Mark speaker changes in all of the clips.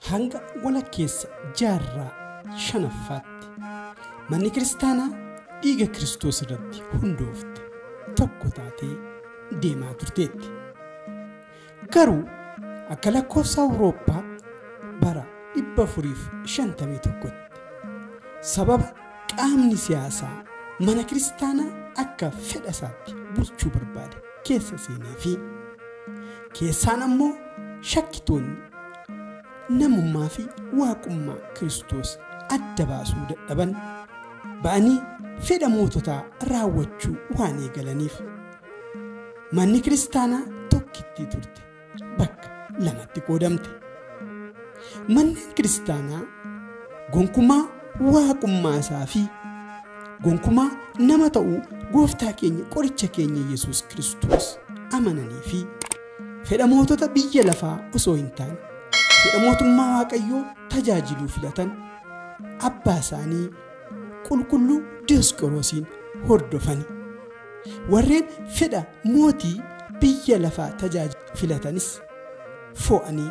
Speaker 1: Hanga walakkeessa jaarraa shanaffaatti manni kiristaanaa dhiiga Kiristoos irratti hundoofte tokko taatee deemaa turteetti. Garuu akka lakkoofsa Awurooppaa bara 451tti sababa qaamni siyaasaa mana kiristaanaa akka fedha isaatti bulchuu barbaade keessa seenee fi keessaan ammoo shakkitoonni namummaa fi Waaqummaa Kiristoos adda baasuu dadhaban, ba'anii fedha moototaa raawwachuu waan eegalaniif. Manni Kiristaanaa tokkittii turte bakka lamatti qoodamte. Manneen Kiristaanaa gonkumaa Waaqummaa isaa fi gonkumaa nama ta'uu Gooftaa keenya qoricha keenya Yesuus Kiristoos amananii fi Fedha mootota biyya lafaa osoo hin taane, fedha mootummaa Waaqayyoo tajaajiluu filatan abbaa isaanii qulqulluu Diyoosqoroosiin hordofani. Warreen fedha mootii biyya lafaa tajaajilu filatanis fo'anii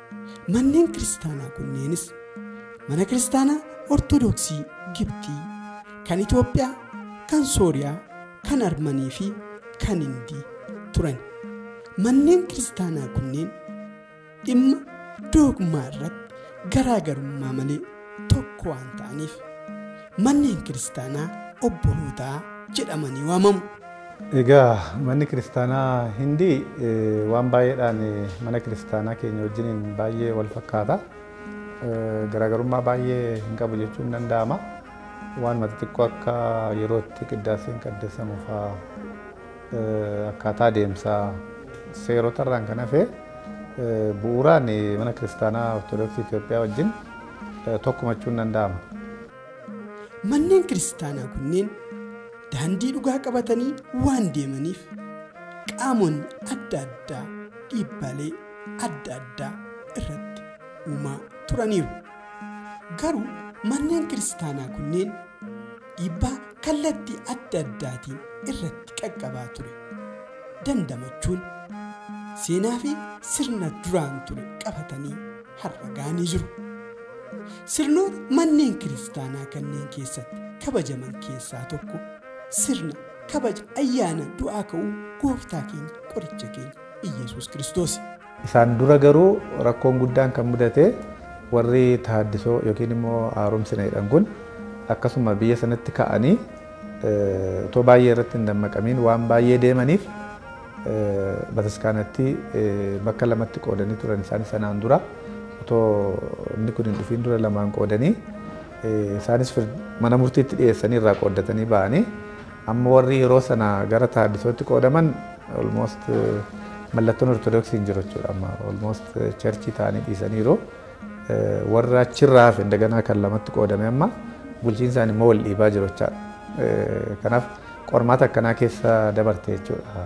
Speaker 1: Manneen kiristaanaa kunneenis mana kiristaanaa Ortodoksii Gibxii, kan Itoophiyaa, kan Sooriyaa, kan Armanii fi kan Hindii turan. Manneen kiristaanaa kunneen dhimma doogmaa irratti garaagarummaa malee tokko waan ta'aniif manneen kiristaanaa obbolootaa jedhamanii waamamu. Egaa
Speaker 2: manni kiristaanaa Hindii eh, waan baay'eedhaan eh, mana kiristaanaa keenya wajjiniin baay'ee wal fakkaata. Eh, Garaagarummaa baay'ee hin qabu jechuun ni danda'ama. Waanuma xixiqqoo akka yerootti qiddaaseen qaddasamu fa'aa Akkaataa deemsa seerota irraan kan hafe bu'uuraan Mana Kiristaanaa Ortodoksii Itoophiyaa wajjin tokkumachuun danda'ama.
Speaker 1: Manneen kiristaanaa kunneen daandii dhugaa qabatanii waan deemaniif qaamonni adda addaa dhiibbaalee adda addaa irratti uumaa turaniiru. Garuu manneen kiristaanaa kunneen. dhiibbaa kallattii adda addaatiin irratti qaqqabaa ture dandamachuun seenaa fi sirna duraan ture qabatanii har'a ga'anii jiru. Sirnoota manneen kiristaanaa kanneen keessatti kabajaman keessaa tokko sirna kabaja ayyaana du'aa ka'uu gooftaa keenya qoricha keenya Iyyasuus Kiristoosi. Isaan dura
Speaker 2: garuu rakkoon guddaan kan mudate warri Tahaaddisoo yookiin immoo Haaromsina jedhan kun akkasuma biyya sanatti ka'anii otoo baay'ee irratti hin dammaqamiin waan baay'ee deemaniif bataskaanatti bakka lamatti qoodanii turan isaanis sanaan dura otoo inni kun hin dhufiin dura lamaan qoodanii isaanis mana murtiitti dhiyeessanii irraa qooddatanii ba'anii Amma warri yeroo sana gara Taaddisootti qoodaman almost mallattoon Ortodoksii hin jiru jechuudha. Amma almost cherchii ta'anii dhiisaniiru. Warra achirraa hafe indaganaa kan lamatti qoodame amma bulchiinsaan immoo wal dhiibaa jiru jechaadha. Kanaaf qormaata akkanaa keessa dabarte jechuudha.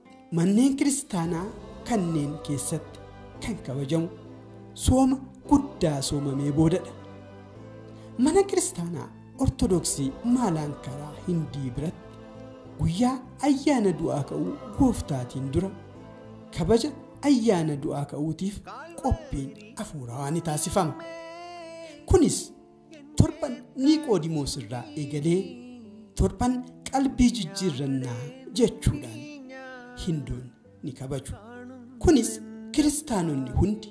Speaker 1: Manneen kiristaanaa kanneen keessatti kan kabajamu sooma guddaa soomamee boodadha. Mana kiristaanaa Ortodoksii Maalaankaraa Hindii biratti guyyaa ayyaana du'aa ka'uu gooftaatiin dura kabaja ayyaana du'aa ka'uutiif qophiin afuurawaa ni taasifama. Kunis Torban Niiqoodimoos irraa eegalee torban qalbii jijjiirrannaa jechuudhaan Hindoonni ni kabaju. Kunis kiristaanonni hundi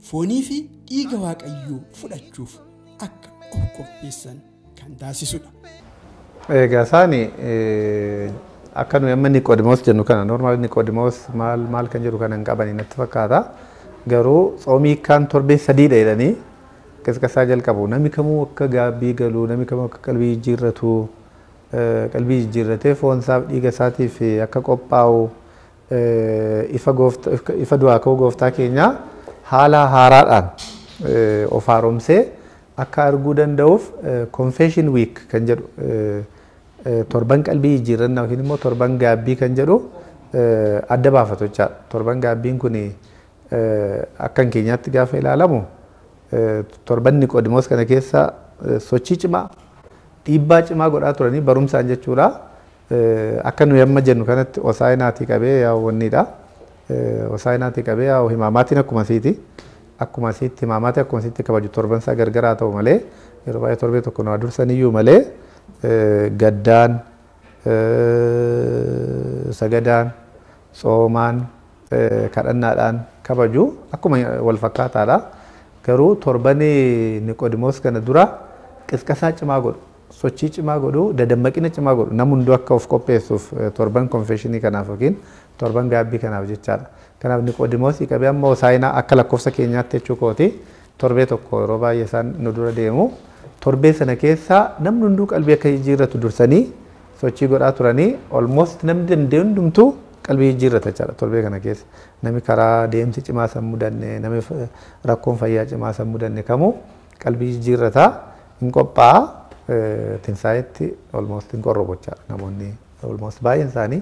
Speaker 1: foonii fi dhiiga Waaqayyoo fudhachuuf akka of qopheessan kan taasisudha. Egaa
Speaker 2: isaan akka nuyi amma Niqoodimoos jennu kana normaal Niqoodimoos maal maal kan jedhu kana hin qabani natti fakkaata. Garuu tsoomii kaan torbee sadiidha jedhanii Qisqasaa jalqabu. Nami kamuu akka gaabbii galu, nami kamuu akka qalbii jijjiirratu, qalbii jijjiirratee foon isaaf dhiiga isaatiif akka qophaa'u, ifa goofta, ifa du'aa ka'uu gooftaa keenyaa haala haaraadhaan of haaromsee akka arguu danda'uuf Confession Week kan jedhu torban qalbii jijjiirrannaa yookiin immoo torban gaabbii kan jedhu adda baafatu jechaadha. Torban gaabbiin kun Akka keenyaatti gaafa ilaalamu torbanni Niqoodimoos kana keessa sochii cimaa, dhiibbaa cimaa godhaa turanii barumsaan jechuudha. Akka nuyi amma jennu kanatti Hosaa'inaatii qabee yaa'u wanniidha. Hosaa'inaatii qabee yaa'u himaamaatiin akkuma asiiti. Akkuma asiitti himaamaatii akkuma asiitti kabaju torban isaa gargaraa ta'u malee yeroo baay'ee torbee tokko nu dursaniyyuu malee gaddaan, sagadaan, tsoomaan, kadhannaadhaan kabaju akkuma wal fakkaataadha. Garuu torbani Niqoodimoos kana dura qisqasaa cimaa godhu, sochii cimaa godhu, dadammaqina cimaa godhu nam hunduu akka of qopheessuuf torban konfeeshinii kanaaf yookiin torban gaabbii kanaaf jechaadha. Kanaaf Niqoodimoosii qabee amma Hosaayinaa akka lakkoofsa keenyaatti jechuu kooti torbee tokko yeroo baay'ee isaan nu dura deemu. Torbee sana keessa namni hunduu qalbii akka jijjiirratu dursanii sochii godhaa turanii almost namni danda'e hundumtuu qalbii jijjiirrata jechaadha torbee kana keessa. Nami karaa deemsi cimaa san mudanne, nami rakkoon fayyaa cimaa san mudanne kamuu qalbii jijjiirrata hin qophaa'a tinsaa'etti almost hin qorrobochaadha namoonni almost baay'een isaanii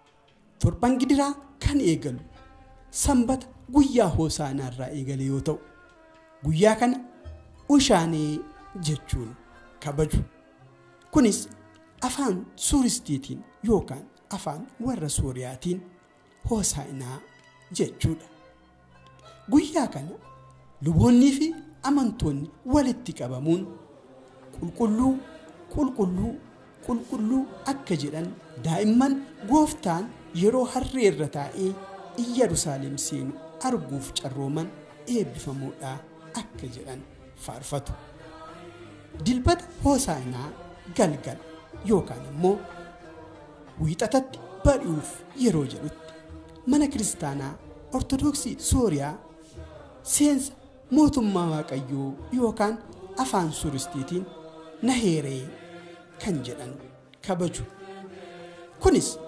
Speaker 1: Torban gidiraa kan eegalu sanbata guyyaa hoosaanaa irraa eegale yoo ta'u guyyaa kana ushaanee jechuun kabaju. Kunis afaan suuristiitiin yookaan afaan warra suuriyaatiin hoosaa'inaa jechuudha. Guyyaa kana luboonnii fi amantoonni walitti qabamuun qulqulluu qulqulluu qulqulluu akka jedhan daa'imman gooftaan yeroo harree irra taa'ee Iyyarusaaleem seenu arguuf carrooman eebbifamoodha akka jedhan faarfatu. Dilbata hoosaanaa galgala yookaan immoo wiixatatti bari'uuf yeroo jedhutti Mana Kiristaanaa Ortodoksii Sooriyaa seensa mootummaa Waaqayyoo yookaan afaan Suuristiitiin Naheeree kan jedhan kabaju. Kunis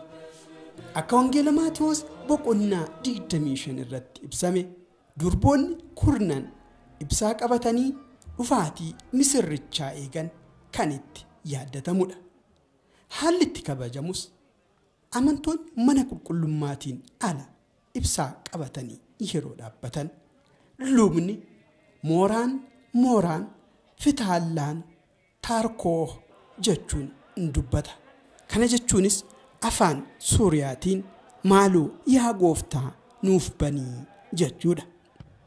Speaker 1: akka Wangeela Maatiwoos boqonnaa 25 irratti ibsame durboonni kurnan ibsaa qabatanii dhufaatii misirrichaa eegan kan itti yaaddatamudha. Haalli itti kabajamus Amantoonni mana qulqullummaatiin ala ibsaa qabatanii yeroo dhaabbatan, lubni mooraan mooraan Fitaallaan Taarkooh jechuun dubbata. Kana jechuunis afaan Suuriyaatiin maaloo yaa Gooftaa nuuf bani jechuudha.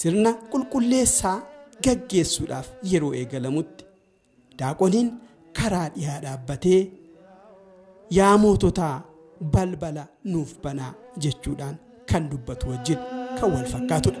Speaker 1: Sirna qulqulleessaa gaggeessuudhaaf yeroo eegalamutti daaqoniin karaa dhihaa dhaabbatee yaa moototaa balbala nuuf banaa jechuudhaan kan dubbatu wajjin kan wal fakkaatudha.